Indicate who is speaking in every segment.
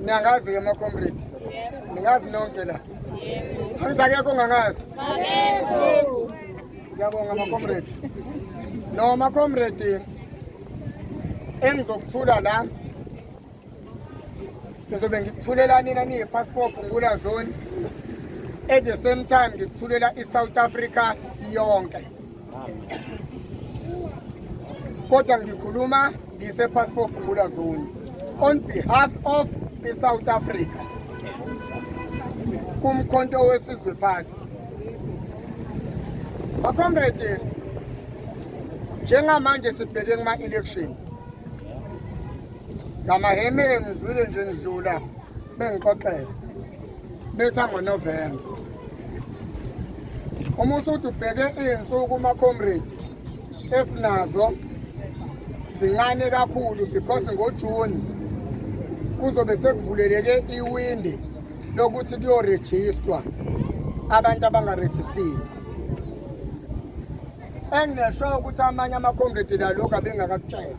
Speaker 1: Niyangazi ke macomrade. Ningazi nonke la. Angithi akekho ongangazi. Akekho. Ngiyabonga macomrade. No macomrade engizokuthula la ngizobe ngikuthulela nina niyi-part four phungula zone at the same time ngikuthulela i-south africa yonke kodwa ngikhuluma ngise passport Phumula Zone on behalf of the South Africa kumkhonto wesizwe party bakomrede njengamanje sibheke kuma election ngamaheme ngizwile nje ngidlula bengixoxela betha ngoNovemba uma usuthi ubheke iy'nsuku uma-comrade esinazo zincane kakhulu because ngojuni kuzobe sekuvuleleke iwindi lokuthi kuyorejistwa abantu abangarejistile enginesho ukuthi amanye ama-comrade lalokhu abengakakutshela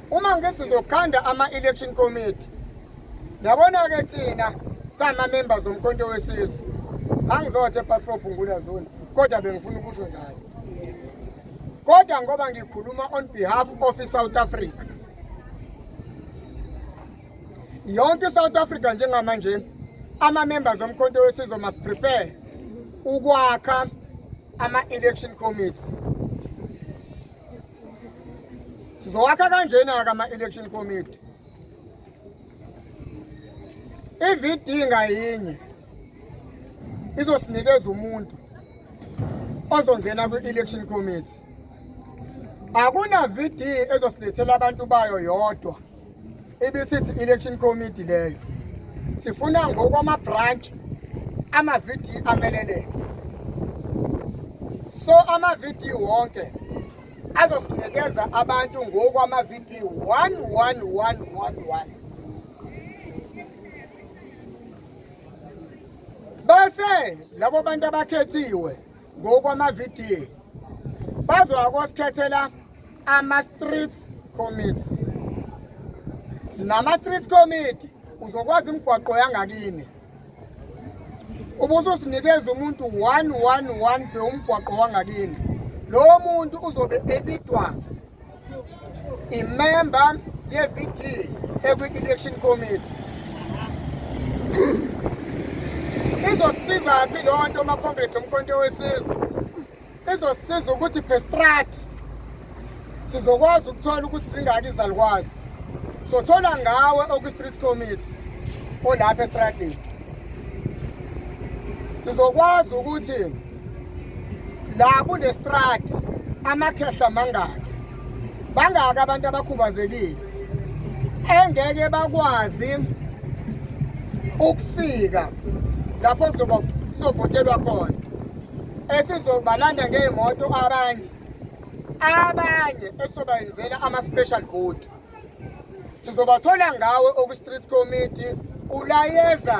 Speaker 1: uma ngithi uzokhanda ama-election committee yabona-ke thina sama-members omkhonto wesizwe angizothe epasfop ngula zone kodwa bengifuna ukusho njalo kodwa ngoba ngikhuluma on behalf of i-south africa yonke i-south africa njengamanje ama-members omkhonto wesizwe must prepare ukwakha ama-election committee sizowakha kanjena-ke ama-election committee i-vd ngayinye izosinikeza umuntu ozongena kwi-election committee akuna-vd ezosilethela abantu bayo yodwa ibisithi election committee leyo sifuna ngokwama-branch amavidiyo ameleleke so amavidiyo wonke azosinikeza abantu ngokwamavidiyo 11111 bese labo bantu abakhethiwe ngokwamavidiyo bazowakosikhathela ama-street commit nama-street committee uzokwazi imigwaqo yangakini ubususinikeza umuntu one one one pe umgwaqo wangakini lowo muntu uzobe elidwa imemba ye-VD ekwi-election committee izosizaphi loo nto umakhombredi omkhonto wesizwe izosiza ukuthi bestrat sizokwazi ukuthola ukuthi zingaki izalukwazi sothola ngawe okwi-street committee olapha estradini sizokwazi ukuthi la kunestrad amakhehla mangaki bangaki abantu abakhubazekile engeke bakwazi ukufika lapho kuzoba kuzovotelwa khona esizobalanda ngey'moto abanye abanye esizobayenzela ama-special vote sizobathola ngawe okwi-street committee ulayeza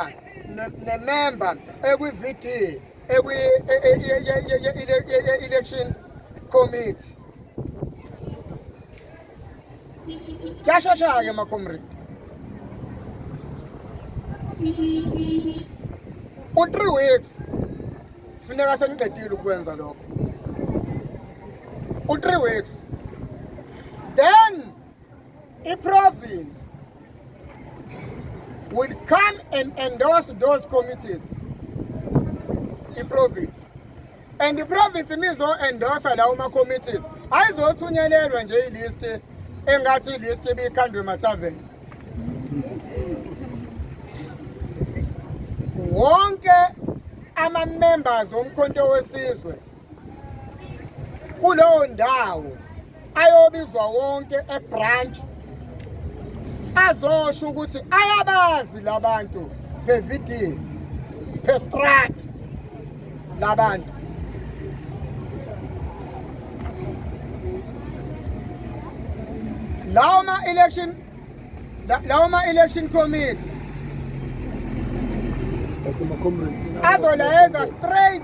Speaker 1: nememba ekwi-vd election committee kyashasha-ke macomrade u-three weeks funeka seniqedile ukwenza lokho u-three weeks then I-province will come and endorse those committees i-province and i-province nizo-endorsa lawo ma-committees ayizothunyelelwa nje ilisti engathi ilisti ibikhandwe mataveni wonke ama-members omkhonto wesizwe kuleyo ndawo ayobizwa wonke ebranch azosho ukuthi ayabazi labantu phevidini phestrat labantu lawo ma-election lawo ma-election committee azolayeza straight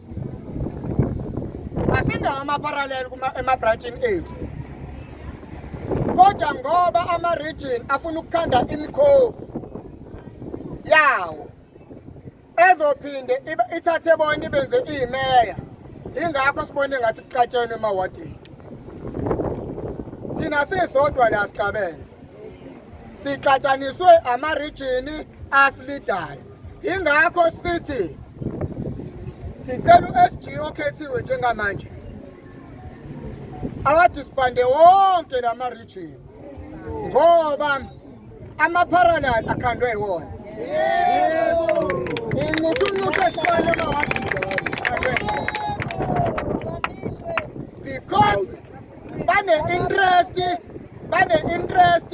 Speaker 1: asindawo ama-parallel ema-branchini ethu kodwa ngoba ama-region afuna ukukhanda imikhovu yawo ezophinde ithathe bona ibenze iyimeya yingakho sibone ngathi kuqatshenwe emawadini thina sisodwa la sihlabene sixatshaniswe amarijini asilidayo Ingakho sithi sicela u-SG okhethiwe njengamanje awadisbande wonke la ma-region ngoba ama-parallel akhandwe iwona incuthuncuthi esiqale emawadi because bane-interest bane-interest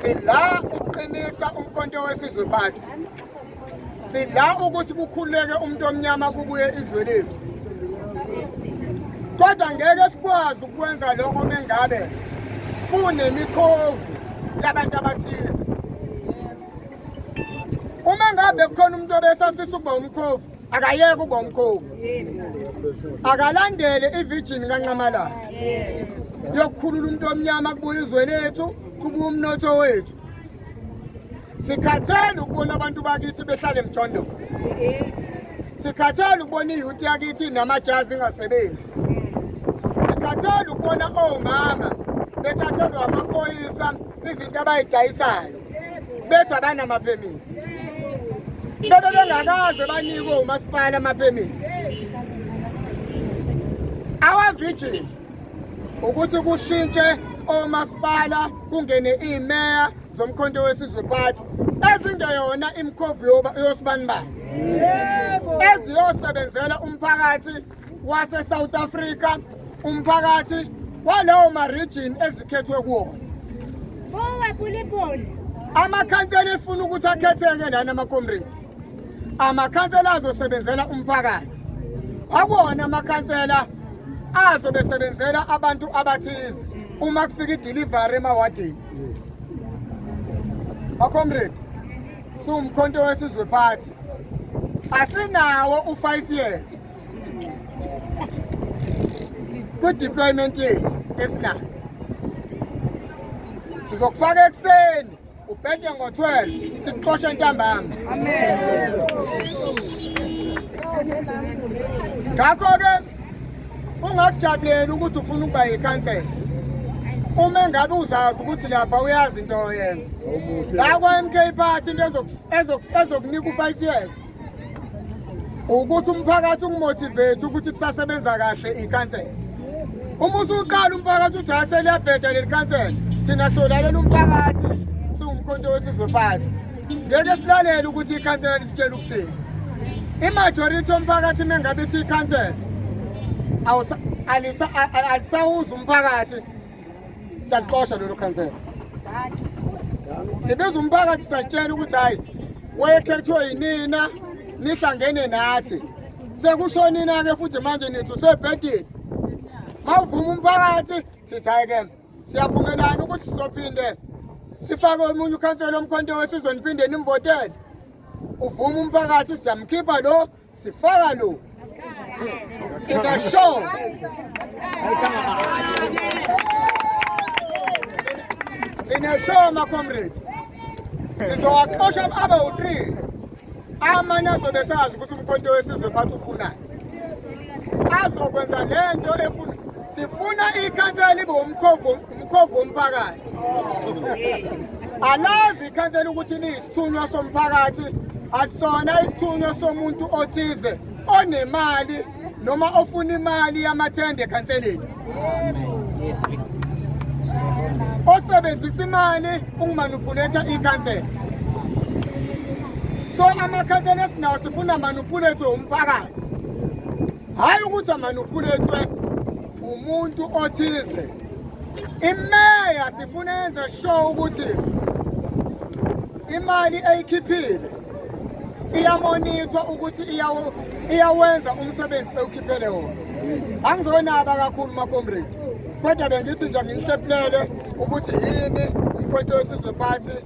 Speaker 1: Sidla ukuqinisa umkhonto wesizwe bathi. Sidla ukuthi kukhuleke umuntu omnyama kubuye izwe lethu. Kodwa ngeke sikwazi ukwenza lokho mengabe kunemikhovu yabantu abathize. Uma ngabe kukhona umuntu obesafisa ukuba umkhovu akayeke ukuba umkhovu akalandele ivijini kanqamalala yokukhulula umuntu omnyama kubuya izwe lethu kubuya umnotho wethu sikhathele ukubona abantu bakithi behlale emjondolo sikhathele ukubona iyuthi yakithi namajazi ingasebenzi sikhathele ukubona omama bethathelwa amaphoyisa izinto abayidayisayo bethu abanamaphemithi bebe bengakaze banikwe umasipala amaphemithi awavijini ukuthi kushintshe omasipala kungene imeya zomkhonto wesizwe party ezingeyona imkhovu yosibanibani eziyosebenzela umphakathi waseSouth Africa umphakathi walawo ma-region ezikhethwe kuwona owebulibuli amakhansela esifuna ukuthi akhetheke lana amakomredi amakhansela azosebenzela umphakathi akuwona amakhansela azo besebenzela abantu abathize uma kufika idelivery emawadini bakomredi siwumkhonto wesizwe phathi asinawo u-five years kwi-deployment yethu esinayo sizokufaka ekuseni ubhede ngo-12 sikuxoshe ntambama ngakho-ke ungakujabuleli ukuthi ufuna ukuba yikhansela uma engabe uzazi ukuthi lapha uyazi into oyenza la kwa-mk party into ezokunika u-five years ukuthi umphakathi ungimotivate ukuthi sisasebenza kahle ikhansela uma usuqala umphakathi uthi hhayi seliyabheda leli khansela thina solalela umphakathi siwumkhonto wesizwe phansi ngeke silalele ukuthi ikhansela lisitshela ukuthini imajority omphakathi mengabe ithi ikhansela alisawuzi umphakathi siyaxosha lolo khansela sibiza umphakathi satshela ukuthi hhayi wayekhethwe yinina nihlangene nathi sekushonina-ke futhi manje nithi usebhedini ma uvuma umphakathi sithi hhayi-ke siyavumelana ukuthi sizophinde sifake omunye ukhansela omkhonto wesizwe niphinde nimvotele uvuma umphakathi siyamkhipha lo Sifaka lo. Sika show. Sina show ma comrade. Sizowaxosha abe u3. Amanye azobe sazi ukuthi umkhonto wesizwe phathu ufunani. Azokwenza lento efuna sifuna ikhansela libe umkhovu Mkhovu womphakathi. Alazi ikhansela ukuthi liyisithunywa somphakathi akusona isithunywa somuntu othize onemali noma ofuna imali yamathende ekhanseleni. Osebenzisa imali ukumanuphuletha ikhansela. So amakhansela esinawo sifuna manuphulethe umphakathi. Hayi ukuthi amanuphulethe umuntu othize imeya sifuna yenze show ukuthi imali eyikhiphile iyamonithwa ukuthi iyawenza umsebenzi ewukhiphele wona angizonaba kakhulu makomredi kodwa bengithi nje ngihlephulele ukuthi yini umkhonto wesizwe phathi